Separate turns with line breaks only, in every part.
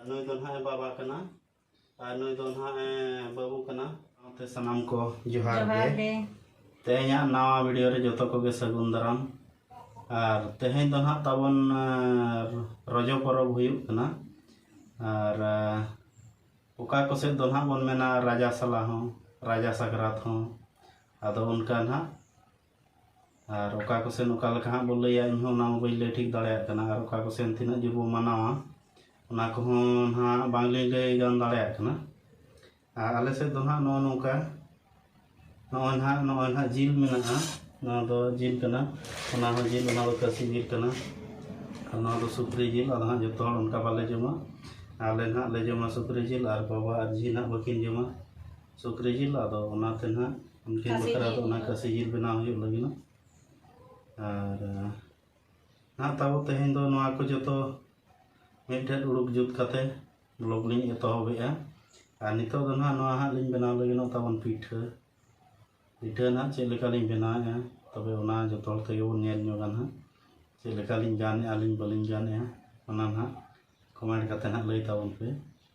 ᱱᱩᱭ ᱫᱚ ᱱᱟᱦᱟᱜ ᱵᱟᱵᱟ ᱠᱟᱱᱟ ᱟᱨ ᱱᱩᱭ ᱫᱚ ᱱᱟᱦᱟᱜ ᱵᱟᱹᱵᱩ ᱠᱟᱱᱟ ᱥᱟᱶᱛᱮ ᱥᱟᱱᱟᱢ ᱠᱚ ᱡᱚᱦᱟᱨ ᱜᱮ ᱛᱮᱦᱮᱧᱟᱜ ᱱᱟᱣᱟ ᱵᱷᱤᱰᱤᱭᱳ ᱨᱮ ᱡᱚᱛᱚ ᱠᱚᱜᱮ ᱥᱟᱹᱜᱩᱱ ᱫᱟᱨᱟᱢ ᱟᱨ ᱛᱮᱦᱮᱧ ᱫᱚ ᱱᱟᱦᱟᱜ ᱛᱟᱵᱚᱱ ᱨᱚᱡᱚ ᱯᱚᱨᱚᱵᱽ ᱦᱩᱭᱩᱜ ᱠᱟᱱᱟ ᱟᱨ ᱚᱠᱟ ᱠᱚ ᱥᱮᱫ ᱫᱚ ᱱᱟᱦᱟᱜ ᱵᱚᱱ ᱢᱮᱱᱟ ᱨᱟᱡᱟ ᱥᱟᱞᱟ ᱦᱚᱸ ᱨᱟᱡᱟ ᱥᱟᱠᱨᱟᱛ ᱦᱚᱸ ᱟᱫᱚ ᱚᱱᱠᱟ ᱱᱟᱦᱟᱜ ᱟᱨ ᱚᱠᱟ ᱠᱚᱥᱮᱱ ᱚᱠᱟ ᱞᱮᱠᱟ ᱦᱟᱸᱜ ᱵᱚ ᱞᱟᱹᱭᱟ ᱤᱧᱦᱚᱸ ᱚᱱᱟ ᱢᱟ ᱵᱟᱹᱧ ᱞᱟᱹᱭ ᱴᱷᱤᱠ ᱫᱟᱲᱮᱭᱟᱜ ᱠᱟᱱᱟ ᱟᱨ ᱚᱠᱟ ᱠᱚᱥᱮᱱ ᱛᱤᱱᱟᱹᱜ ᱡᱳᱨ ᱵᱚ ᱢᱟᱱᱟᱣᱟ ᱚᱱᱟ ᱠᱚᱦᱚᱸ ᱱᱟᱦᱟᱜ ᱵᱟᱝᱞᱤᱧ ᱞᱟᱹᱭ ᱜᱟᱱ ᱫᱟᱲᱮᱭᱟᱜ ᱠᱟᱱᱟ ᱟᱨ ᱟᱞᱮ ᱥᱮᱫ ᱫᱚ ᱱᱟᱦᱟᱜ ᱱᱚᱜᱼᱚ ᱱᱚᱝᱠᱟ ᱱᱚᱜᱼᱚᱭ ᱱᱟᱦᱟᱜ ᱱᱚᱜᱼᱚᱭ ᱱᱟᱦᱟᱜ ᱡᱤᱞ ᱢᱮᱱᱟᱜᱼᱟ ᱱᱚᱣᱟ ᱫᱚ ᱡᱤᱞ ᱠᱟᱱᱟ ᱚᱱᱟ ᱦᱚᱸ ᱡᱤᱞ ᱚᱱᱟ ᱫᱚ ᱠᱟᱹᱥᱤ ᱡᱤᱞ ᱠᱟᱱᱟ ᱟᱨ ᱱᱚᱣᱟ ᱫᱚ ᱥᱩᱠᱨᱤ ᱡᱤᱞ ᱟᱫᱚ ᱦᱟᱸᱜ ᱡᱚᱛᱚ ᱦᱚᱲ ᱚᱱᱠᱟ ᱵᱟᱞᱮ ᱡᱚᱢᱟ ᱟᱞᱮ ᱱᱟᱦᱟᱜ ᱞᱮ ᱡᱚᱢᱟ ᱥᱩᱠᱨᱤ ᱡᱤᱞ ᱟᱨ ᱵᱟᱵᱟ ᱟᱨ ᱡᱷᱤ ᱱᱟᱦᱟᱜ ᱵᱟᱹᱠᱤᱱ ᱡᱚᱢᱟ ᱥᱩᱠᱨᱤ ᱡᱤᱞ ᱟᱫᱚ ᱚᱱᱟᱛᱮ ᱱᱟᱦᱟᱜ ᱩᱱᱠᱤᱱ ᱵᱟᱠᱷᱨᱟ ᱫᱚ ᱚᱱᱟ ᱠᱟᱹᱥᱤ ᱡᱤᱞ ᱵᱮᱱᱟᱣ ᱦᱩᱭᱩᱜ ᱞᱟᱹᱜᱤᱫ ᱟᱨ ᱱᱟᱦᱟᱜ ᱛᱟᱵᱚ ᱛᱮᱦᱮᱧ ᱫᱚ ᱱᱚᱣᱟ ᱠᱚ ᱡᱚᱛᱚ ᱢᱤᱫᱴᱮᱡ ᱩᱰᱩᱠ ᱡᱩᱛ ᱠᱟᱛᱮ ᱵᱞᱚᱜ ᱞᱤᱧ ᱮᱛᱚᱦᱚᱵᱮᱜᱼᱟ ᱟᱨ ᱱᱤᱛᱚᱜ ᱫᱚ ᱱᱟᱦᱟᱜ ᱱᱚᱣᱟ ᱦᱟᱸᱜ ᱞᱤᱧ ᱵᱮᱱᱟᱣ ᱞᱟᱹᱜᱤᱫ ᱛᱟᱵᱚᱱ ᱯᱤᱴᱷᱟᱹ ᱯᱤᱴᱷᱟᱹ ᱱᱟᱦᱟᱜ ᱪᱮᱫ ᱞᱮᱠᱟ ᱞᱤᱧ ᱵᱮᱱᱟᱣᱮᱜᱼᱟ ᱛᱚᱵᱮ ᱚᱱᱟ ᱡᱚᱛᱚ ᱦᱚᱲ ᱛᱮᱜᱮ ᱵᱚᱱ ᱧᱮᱞ ᱧᱚᱜᱟ ᱱᱟᱦᱟᱜ ᱪᱮᱫ ᱞᱮᱠᱟ ᱞᱤᱧ ᱜᱟᱱᱮᱜᱼᱟ ᱞᱤᱧ ᱵᱟᱹᱞᱤᱧ ᱜᱟᱱᱮᱜᱼᱟ ᱚᱱᱟ ᱱᱟᱦᱟᱜ ᱠᱚᱢᱮᱱᱴ ᱠᱟᱛᱮ ᱱᱟᱦᱟᱜ ᱞᱟᱹᱭ ᱛᱟᱵᱚᱱ ᱯᱮ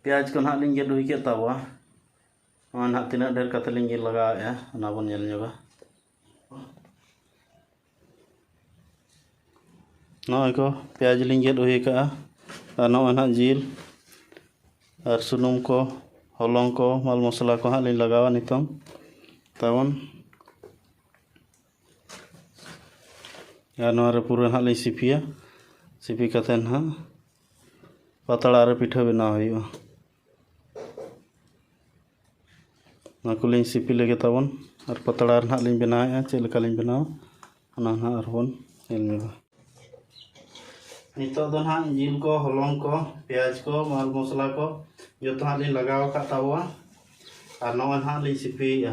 ᱯᱮᱸᱭᱟᱡᱽ ᱠᱚ ᱱᱟᱦᱟᱜ ᱞᱤᱧ ᱜᱮᱫ ᱦᱩᱭ ᱠᱮᱫ ᱛᱟᱵᱚᱣᱟ ᱱᱚᱣᱟ ᱱᱟᱦᱟᱜ ᱛᱤᱱᱟᱹᱜ ᱰᱷᱮᱨ ᱠᱟᱛᱮ ᱞᱤᱧ ᱜᱮᱫ ᱞᱟᱜᱟᱣᱮᱫᱼᱟ ᱚᱱᱟ ᱵᱚᱱ ᱧᱮᱞ ᱧᱚᱜᱟ ᱱᱚᱜᱼᱚᱭ ᱠᱚ ᱯᱮᱸᱭᱟᱡᱽ ᱞᱤᱧ ᱜᱮᱫ ᱦᱩᱭ ᱟᱠᱟᱫᱼᱟ ᱟᱨ ᱱᱚᱜᱼᱚᱭ ᱱᱟᱦᱟᱜ ᱡᱤᱞ ᱟᱨ ᱥᱩᱱᱩᱢ ᱠᱚ ᱦᱚᱞᱚᱝ ᱠᱚ ᱢᱟᱞ ᱢᱚᱥᱞᱟ ᱠᱚ ᱦᱟᱸᱜ ᱞᱤᱧ ᱞᱟᱜᱟᱣᱟ ᱱᱤᱛᱚᱝ ᱛᱟᱵᱚᱱ ᱟᱨ ᱱᱚᱣᱟ ᱨᱮ ᱯᱩᱨᱟᱹ ᱦᱟᱸᱜ ᱞᱤᱧ ᱥᱤᱯᱤᱭᱟ ᱥᱤᱯᱤ ᱠᱟᱛᱮ ᱦᱟᱸᱜ ᱯᱟᱛᱲᱟ ᱨᱮ ᱯᱤᱴᱷᱟᱹ ᱵᱮᱱᱟᱣ ᱦᱩᱭᱩᱜᱼᱟ ᱚᱱᱟ ᱠᱚᱞᱤᱧ ᱥᱤᱯᱤ ᱞᱮᱜᱮ ᱛᱟᱵᱚᱱ ᱟᱨ ᱯᱟᱛᱲᱟ ᱨᱮ ᱦᱟᱸᱜ ᱞᱤᱧ ᱵᱮᱱᱟᱣᱮᱫᱼᱟ ᱪᱮᱫ ᱞᱮᱠᱟ ᱞᱤᱧ ᱵᱮᱱᱟᱣᱟ ᱚᱱᱟ ᱦᱟᱸᱜ ᱟᱨᱵᱚᱱ ᱧᱮᱞ ᱧᱚᱜᱟ ᱱᱤᱛᱚᱜ ᱫᱚ ᱦᱟᱸᱜ ᱡᱤᱞ ᱠᱚ ᱦᱚᱞᱚᱝ ᱠᱚ ᱯᱮᱸᱭᱟᱡᱽ ᱠᱚ ᱢᱟᱞ ᱢᱚᱥᱞᱟ ᱠᱚ ᱡᱚᱛᱚ ᱦᱟᱸᱜ ᱞᱤᱧ ᱞᱟᱜᱟᱣ ᱟᱠᱟᱫ ᱛᱟᱵᱚᱣᱟ ᱟᱨ ᱱᱚᱜᱼᱚᱭ ᱦᱟᱸᱜ ᱞᱤᱧ ᱥᱤᱯᱤᱭᱮᱫᱼᱟ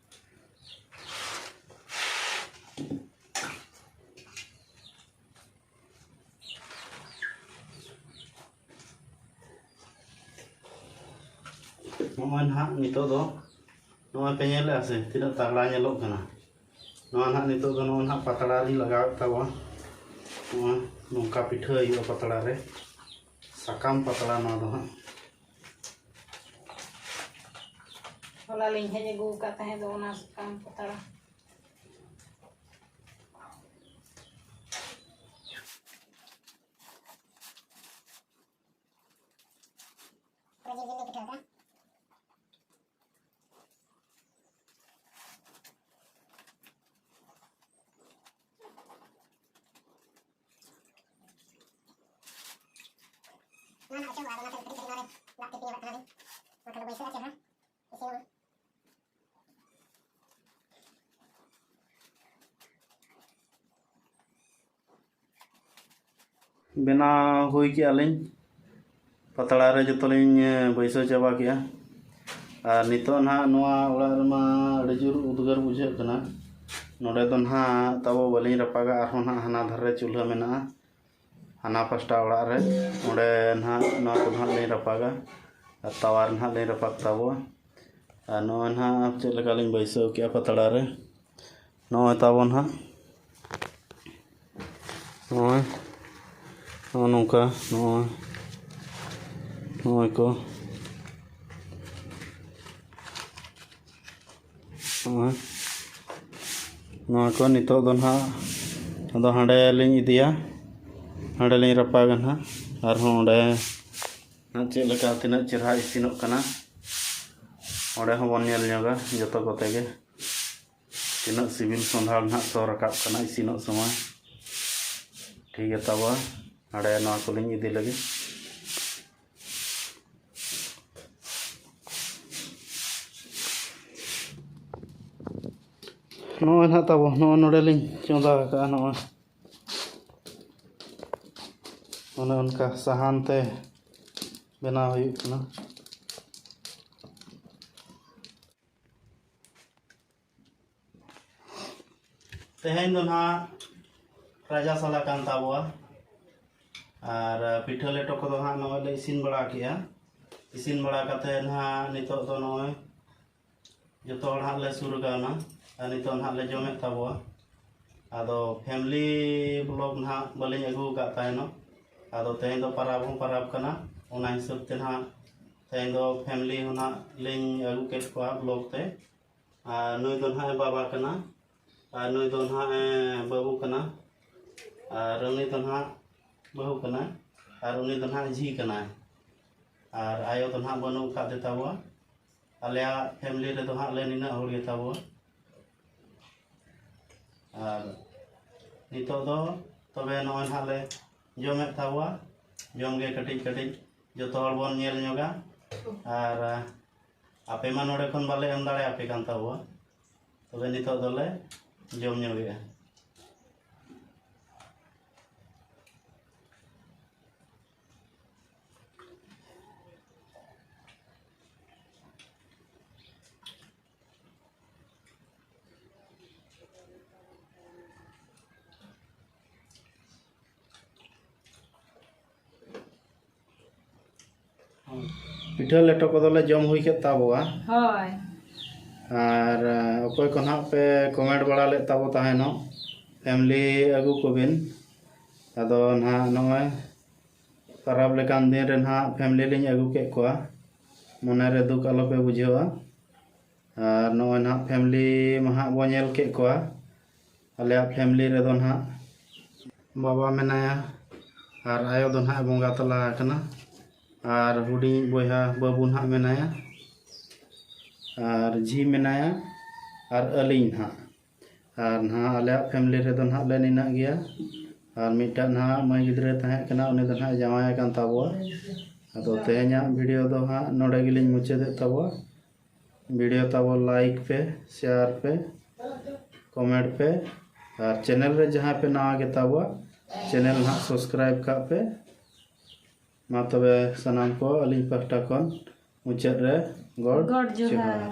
ᱱᱚᱜᱼᱚᱭ ᱱᱟᱦᱟᱜ ᱱᱤᱛᱚᱜ ᱫᱚ ᱱᱚᱜᱼᱚᱭ ᱯᱮ ᱧᱮᱞᱮᱫᱼᱟ ᱥᱮ ᱛᱤᱱᱟᱹᱜ ᱛᱟᱜᱽᱲᱟ ᱧᱮᱞᱚᱜ ᱠᱟᱱᱟ ᱱᱚᱣᱟ ᱱᱟᱦᱟᱜ ᱱᱤᱛᱚᱜ ᱫᱚ ᱱᱚᱜᱼᱚᱭ ᱱᱟᱦᱟᱜ ᱯᱟᱛᱲᱟ ᱨᱤᱧ ᱞᱟᱜᱟᱣᱮᱫ ᱛᱟᱵᱚᱱ ᱱᱚᱣᱟ ᱱᱚᱝᱠᱟ ᱯᱤᱴᱷᱟᱹ ᱦᱩᱭᱩᱜᱼᱟ ᱯᱟᱛᱲᱟ ᱨᱮ ᱥᱟᱠᱟᱢ ᱯᱟᱛᱲᱟ ᱱᱚᱣᱟ ᱫᱚ ᱦᱟᱸᱜ ᱦᱚᱞᱟ ᱞᱤᱧ ᱦᱮᱡ ᱟᱹᱜᱩ ᱟᱠᱟᱫ ᱛᱟᱦᱮᱸ ᱫᱚ ᱚᱱᱟ ᱥᱟᱠᱟᱢ ᱯᱟᱛᱲᱟ ᱵᱮᱱᱟᱣ ᱦᱩᱭ ᱠᱮᱜᱼᱟ ᱞᱤᱧ ᱯᱟᱛᱲᱟ ᱨᱮ ᱡᱚᱛᱚ ᱞᱤᱧ ᱵᱟᱹᱭᱥᱟᱹᱣ ᱪᱟᱵᱟ ᱠᱮᱜᱼᱟ ᱟᱨ ᱱᱤᱛᱚᱜ ᱱᱟᱦᱟᱜ ᱱᱚᱣᱟ ᱚᱲᱟᱜ ᱨᱮᱢᱟ ᱟᱹᱰᱤ ᱡᱳᱨ ᱩᱫᱽᱜᱟᱹᱨ ᱵᱩᱡᱷᱟᱹᱜ ᱠᱟᱱᱟ ᱱᱚᱰᱮ ᱫᱚ ᱱᱟᱦᱟᱜ ᱛᱟᱵᱚ ᱵᱟᱹᱞᱤᱧ ᱨᱟᱯᱟᱜᱟ ᱟᱨᱦᱚᱸ ᱱᱟᱦᱟᱜ ᱦᱟᱱᱟ ᱫᱷᱟᱨᱮ ᱨᱮ ᱪᱩᱞᱦᱟᱹ ᱢᱮᱱᱟᱜᱼᱟ ᱦᱟᱱᱟ ᱯᱟᱥᱴᱟ ᱚᱲᱟᱜ ᱨᱮ ᱚᱸᱰᱮ ᱱᱟᱦᱟᱜ ᱱᱚᱣᱟ ᱠᱚ ᱱᱟᱦᱟᱜ ᱞᱤᱧ ᱨᱟᱯᱟᱜᱟ ᱟᱨ ᱛᱟᱣᱟ ᱨᱮ ᱱᱟᱦᱟᱜ ᱞᱤᱧ ᱨᱟᱯᱟᱜ ᱛᱟᱵᱚᱣᱟ ᱟᱨ ᱱᱚᱜᱼᱚᱭ ᱱᱟᱦᱟᱜ ᱪᱮᱫ ᱞᱮᱠᱟ ᱞᱤᱧ ᱵᱟᱹᱭᱥᱟᱹᱣ ᱠᱮᱜᱼᱟ ᱯᱟᱛᱲᱟ ᱨᱮ ᱱᱚᱜᱼᱚᱭ ᱛᱟᱵᱚᱱ ᱦᱟᱸᱜ ᱱᱚᱜᱼᱚᱭ ᱱᱚᱜᱼᱚ ᱱᱚᱝᱠᱟ ᱱᱚᱜᱼᱚᱭ ᱱᱚᱜᱼᱚᱭ ᱠᱚ ᱱᱚᱜᱼᱚᱭ ᱱᱚᱣᱟ ᱠᱚ ᱱᱤᱛᱚᱜ ᱫᱚ ᱱᱟᱦᱟᱜ ᱟᱫᱚ ᱦᱟᱸᱰᱮ ᱞᱤᱧ ᱤᱫᱤᱭᱟ ᱦᱟᱸᱰᱮ ᱞᱤᱧ ᱨᱟᱯᱟᱜᱟ ᱱᱟᱦᱟᱜ ᱟᱨᱦᱚᱸ ᱚᱸᱰᱮ ᱪᱮᱫ ᱞᱮᱠᱟ ᱛᱤᱱᱟᱹᱜ ᱪᱮᱨᱦᱟ ᱤᱥᱤᱱᱚᱜ ᱠᱟᱱᱟ ᱚᱸᱰᱮ ᱦᱚᱸᱵᱚᱱ ᱧᱮᱞ ᱧᱚᱜᱟ ᱡᱚᱛᱚ ᱠᱚᱛᱮ ᱜᱮ ᱛᱤᱱᱟᱹᱜ ᱥᱤᱵᱤᱞ ᱥᱚᱸᱫᱷᱟᱲ ᱱᱟᱦᱟᱜ ᱥᱚ ᱨᱟᱠᱟᱵ ᱠᱟᱱᱟ ᱤᱥᱤᱱᱚᱜ ᱥᱚᱢᱚᱭ ᱴᱷᱤᱠ ᱜᱮ ᱛᱟᱵᱚᱣᱟ ᱱᱚᱰᱮ ᱱᱚᱣᱟ ᱠᱚᱞᱤᱧ ᱤᱫᱤ ᱞᱟᱹᱜᱤᱫ ᱱᱚᱜᱼᱚᱭ ᱱᱟᱦᱟᱜ ᱛᱟᱵᱚ ᱱᱚᱜᱼᱚᱭ ᱱᱚᱰᱮᱞᱤᱧ ᱪᱚᱸᱫᱟ ᱟᱠᱟᱫᱼᱟ ᱱᱚᱜᱼᱚᱭ ᱚᱱᱮ ᱚᱱᱠᱟ ᱥᱟᱦᱟᱱ ᱛᱮ ᱵᱮᱱᱟᱣ ᱦᱩᱭᱩᱜ ᱠᱟᱱᱟ ᱛᱮᱦᱮᱧ ᱫᱚ ᱱᱟᱦᱟᱜ ᱨᱟᱡᱟ ᱥᱟᱞᱟ ᱠᱟᱱ ᱛᱟᱵᱚᱣᱟ ᱟᱨ ᱯᱤᱴᱷᱟᱹ ᱞᱮᱴᱚ ᱠᱚᱫᱚ ᱱᱟᱦᱟᱜ ᱱᱚᱜᱼᱚᱭ ᱞᱮ ᱤᱥᱤᱱ ᱵᱟᱲᱟ ᱠᱮᱜᱼᱟ ᱤᱥᱤᱱ ᱵᱟᱲᱟ ᱠᱟᱛᱮ ᱱᱟᱦᱟᱜ ᱱᱤᱛᱚᱜ ᱫᱚ ᱱᱚᱜᱼᱚᱭ ᱡᱚᱛᱚ ᱦᱚᱲ ᱱᱟᱦᱟᱜ ᱞᱮ ᱥᱩᱨ ᱠᱟᱣᱱᱟ ᱟᱨ ᱱᱤᱛᱚᱜ ᱱᱟᱦᱟᱜ ᱞᱮ ᱡᱚᱢᱮᱫ ᱛᱟᱵᱚᱣᱟ ᱟᱫᱚ ᱯᱷᱮᱢᱞᱤ ᱵᱞᱚᱜ ᱱᱟᱦᱟᱜ ᱵᱟᱹᱞᱤᱧ ᱟᱹᱜᱩ ᱟᱠᱟᱫ ᱛᱟᱦᱮᱱᱚᱜ ᱟᱫᱚ ᱛᱮᱦᱮᱧ ᱫᱚ ᱯᱟᱨᱟᱵᱽ ᱦᱚᱸ ᱯᱟᱨᱟᱵᱽ ᱠᱟᱱᱟ ᱚᱱᱟ ᱦᱤᱥᱟᱹᱵ ᱛᱮ ᱱᱟᱦᱟᱜ ᱛᱮᱦᱮᱧ ᱫᱚ ᱯᱷᱮᱢᱞᱤ ᱦᱚᱸ ᱱᱟᱜ ᱞᱤᱧ ᱟᱹᱜᱩ ᱠᱮᱫ ᱠᱚᱣᱟ ᱵᱞᱚᱠ ᱛᱮ ᱟᱨ ᱱᱩᱭ ᱫᱚ ᱱᱟᱜ ᱵᱟᱵᱟ ᱠᱟᱱᱟ ᱟᱨ ᱱᱩᱭ ᱫᱚ ᱱᱟᱜ ᱵᱟᱹᱵᱩ ᱠᱟᱱᱟ ᱟᱨ ᱩᱱᱤ ᱫᱚ ᱱᱟᱜ ᱵᱟᱹᱦᱩ ᱠᱟᱱᱟ ᱟᱨ ᱩᱱᱤ ᱫᱚ ᱱᱟᱜ ᱡᱷᱤ ᱠᱟᱱᱟ ᱟᱨ ᱟᱭᱳ ᱫᱚ ᱱᱟᱜ ᱵᱟᱹᱱᱩᱜ ᱟᱠᱟᱫ ᱫᱮ ᱛᱟᱵᱚᱣᱟ ᱟᱞᱮᱭᱟᱜ ᱯᱷᱮᱢᱞᱤ ᱨᱮᱫᱚ ᱦᱟᱸᱜ ᱞᱮ ᱱᱤᱱᱟᱹᱜ ᱦᱚᱲ ᱜᱮ ᱛᱟᱵᱚᱣᱟ ᱟᱨ ᱱᱤᱛᱚᱜ ᱫᱚ ᱛᱚᱵᱮ ᱱᱚᱜᱼᱚᱭ ᱱᱟᱜ ᱞᱮ ᱡᱚᱢᱮᱫ ᱛᱟᱵᱚᱣᱟ ᱡᱚᱢᱜᱮ ᱠᱟᱹᱴᱤᱡ ᱠᱟᱹᱴᱤᱡ ᱡᱚᱛᱚ ᱦᱚᱲ ᱵᱚᱱ ᱧᱮᱞ ᱧᱚᱜᱟ ᱟᱨ ᱟᱯᱮ ᱢᱟ ᱱᱚᱰᱮ ᱠᱷᱚᱱ ᱵᱟᱞᱮ ᱮᱢ ᱫᱟᱲᱮ ᱟᱯᱮ ᱠᱟᱱ ᱛᱟᱵᱚᱣᱟ ᱛᱚᱵᱮ ᱱᱤᱛᱚᱜ ᱫᱚᱞᱮ ᱡᱚᱢ ᱧᱚᱜᱮᱜᱼᱟ ᱯᱤᱴᱷᱟᱹ ᱞᱮᱴᱚ ᱠᱚᱫᱚᱞᱮ ᱡᱚᱢ ᱦᱩᱭ ᱠᱮᱫ ᱛᱟᱵᱚᱣᱟ ᱦᱳᱭ ᱟᱨ ᱚᱠᱚᱭ ᱠᱚ ᱱᱟᱦᱟᱜ ᱯᱮ ᱠᱚᱢᱮᱱᱴ ᱵᱟᱲᱟ ᱞᱮᱫ ᱛᱟᱵᱚ ᱛᱟᱦᱮᱱᱚᱜ ᱯᱷᱮᱢᱞᱤ ᱟᱹᱜᱩ ᱠᱚᱵᱤᱱ ᱟᱫᱚ ᱱᱟᱦᱟᱜ ᱱᱚᱜᱼᱚᱭ ᱯᱟᱨᱟᱵᱽ ᱞᱮᱠᱟᱱ ᱫᱤᱱ ᱨᱮ ᱱᱟᱦᱟᱜ ᱯᱷᱮᱢᱞᱤ ᱞᱤᱧ ᱟᱹᱜᱩ ᱠᱮᱫ ᱠᱚᱣᱟ ᱢᱚᱱᱮ ᱨᱮ ᱫᱩᱠ ᱟᱞᱚ ᱯᱮ ᱵᱩᱡᱷᱟᱹᱣᱟ ᱟᱨ ᱱᱚᱜᱼᱚᱭ ᱱᱟᱦᱟᱜ ᱯᱷᱮᱢᱞᱤ ᱢᱟ ᱦᱟᱸᱜ ᱵᱚ ᱧᱮᱞ ᱠᱮᱫ ᱠᱚᱣᱟ ᱟᱞᱮᱭᱟᱜ ᱯᱷᱮᱢᱞᱤ ᱨᱮᱫᱚ ᱱᱟᱦᱟᱜ ᱵᱟᱵᱟ ᱢᱮᱱᱟᱭᱟ ᱟᱨ ᱟᱭᱳ ᱫᱚ ᱱᱟᱦᱟᱜ ᱵᱚᱸᱜᱟ ᱛᱟᱞᱟ ᱟᱠᱟᱱᱟ ᱟᱨ ᱦᱩᱰᱤᱧ ᱵᱚᱭᱦᱟ ᱵᱟᱹᱵᱩ ᱱᱟᱦᱟᱜ ᱢᱮᱱᱟᱭᱟ ᱟᱨ ᱡᱷᱤ ᱢᱮᱱᱟᱭᱟ ᱟᱨ ᱟᱹᱞᱤᱧ ᱱᱟᱦᱟᱜ ᱟᱨ ᱱᱟᱦᱟᱜ ᱟᱞᱮᱭᱟᱜ ᱯᱷᱮᱢᱞᱤ ᱨᱮᱫᱚ ᱱᱟᱦᱟᱜ ᱞᱮ ᱱᱤᱱᱟᱹᱜ ᱜᱮᱭᱟ ᱟᱨ ᱢᱤᱫᱴᱟᱝ ᱱᱟᱦᱟᱜ ᱢᱟᱹᱭ ᱜᱤᱫᱽᱨᱟᱹᱭ ᱛᱟᱦᱮᱸ ᱠᱟᱱᱟ ᱩᱱᱤ ᱫᱚ ᱱᱟᱦᱟᱜ ᱡᱟᱶᱟᱭ ᱟᱠᱟᱱ ᱛᱟᱵᱚᱣᱟ ᱟᱫᱚ ᱛᱮᱦᱮᱧᱟᱜ ᱵᱷᱤᱰᱤᱭᱳ ᱫᱚ ᱦᱟᱸᱜ ᱱᱚᱰᱮ ᱜᱮᱞᱤᱧ ᱢᱩᱪᱟᱹᱫᱮᱫ ᱛᱟᱵᱚᱣᱟ ᱵᱷᱤᱰᱤᱭᱳ ᱛᱟᱵᱚ ᱞᱟᱭᱤᱠ ᱯᱮ ᱥᱮᱭᱟᱨ ᱯᱮ ᱠᱚᱢᱮᱱᱴ ᱯᱮ ᱟᱨ ᱪᱮᱱᱮᱞ ᱨᱮ ᱡᱟᱦᱟᱸᱭ ᱯᱮ ᱱᱟᱣᱟ ᱜᱮ ᱛᱟᱵᱚᱣᱟ ᱪᱮᱱᱮᱞ ᱱᱟᱦᱟᱜ ᱥᱟᱵᱥᱠᱨᱟᱭᱤᱵ ᱠᱟᱜ ᱯᱮ ᱢᱟ ᱛᱚᱵᱮ ᱥᱟᱱᱟᱢ ᱠᱚ ᱟᱹᱞᱤᱧ ᱯᱟᱦᱴᱟ ᱠᱷᱚᱱ ᱢᱩᱪᱟᱹᱫ ᱨᱮ ᱜᱚᱰ ᱜᱚᱰ ᱡᱚᱦᱟᱨ ᱡᱚᱦᱟᱨ